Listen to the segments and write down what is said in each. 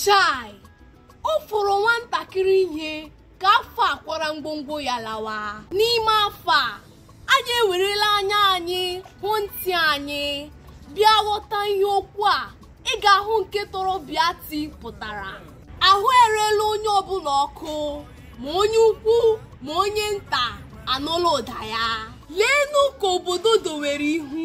chai ọ fọrọ nwantakịrị ihe ka afọ a kwara ngwongwo ya lawa n'ime afọ a anyị ewerela anya anyị hụ ntị anyị bịa ghọta ihe okwu a ị ga-ahụ nke tọrọ biati pụtara ahụ erela onye ọbụla ọkụ ma onye ukwu ma onye nta anụla ụda ya leenụ ka obodo dowere ihu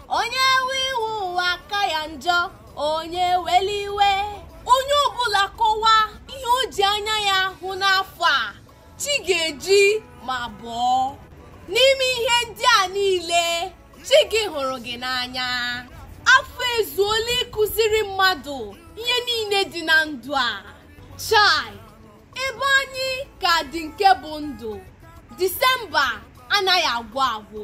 onye we iwe ụwa aka ya njọ onye ewela iwe onye ọbụla kọwa ihe o ji anya ya hụ n'afọ a chi ga-eji ma bọọ n'ime ihe ndị a niile chi gị hụrụ gị n'anya afọ ezuola ịkụziri mmadụ ihe niile dị na ndụ a chai ebe anyị ka dị nke bụ ndụ disemba anaghị agwụ agwụ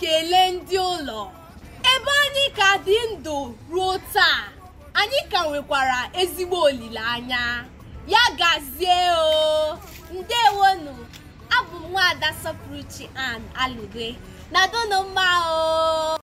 kelee ndị ụlọ ebe anyị ka dị ndụ ruo taa anyị ka nwekwara ezigbo olileanya ya gazie o ndewonu abụ m nwaada sọpụrụchi ann aligwe nọdụnụ mma o